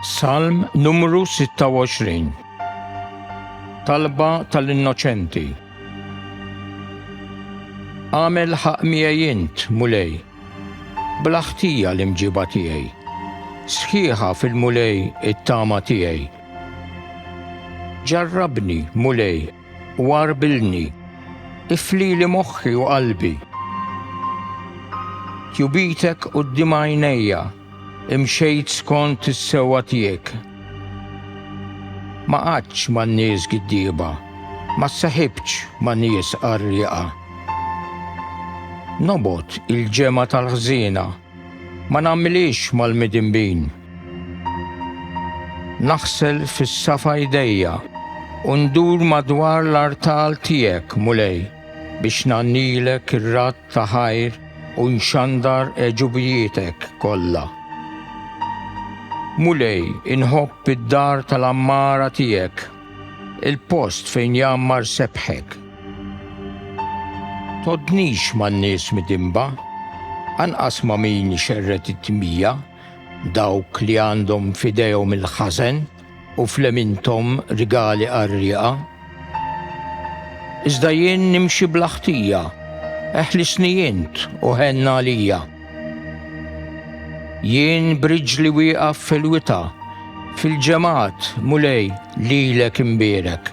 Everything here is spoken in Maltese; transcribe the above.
Salm numru 26 Talba tal-innoċenti Għamel ħaq miegħi int, mulej, bla ħtija l-imġiba tiegħi. Sħiħa fil-mulej it-tama tiegħi. Ġarrabni, mulej, u għarbilni, iflili moħħi u qalbi. Tjubitek quddiem għajnejja, imxejt skont is-sewwa tiegħek. Ma qgħadtx man-nies giddieba, ma ssaħibtx ma' nies qarrieqa. Nobgħod il-ġemgħa tal-ħżiena. Ma nagħmilhiex mal-midinbin. Naħsel fis-safa jdejja u ndur madwar l-artal tiegħek, Mulej, biex ngħannilek ir-radd ta' ħajr u nxandar għeġubijietek kollha. Mulej, inħobb id-dar tal-għammara tiegħek. Il-post fejn jgħammar sebħek. Tgħoddnix man-nies midinba, anqas ma' min ixerred it-tmija, dawk li għandhom f'idejhom il-ħażen u f'leminthom rigali qarrieqa. Iżda jien nimxi bla ħtija, eħlisni int u ħenn għalija. Jien b'riġli wieqaf fil-wita, fil-ġemgħat, Mulej, lilek inbierek.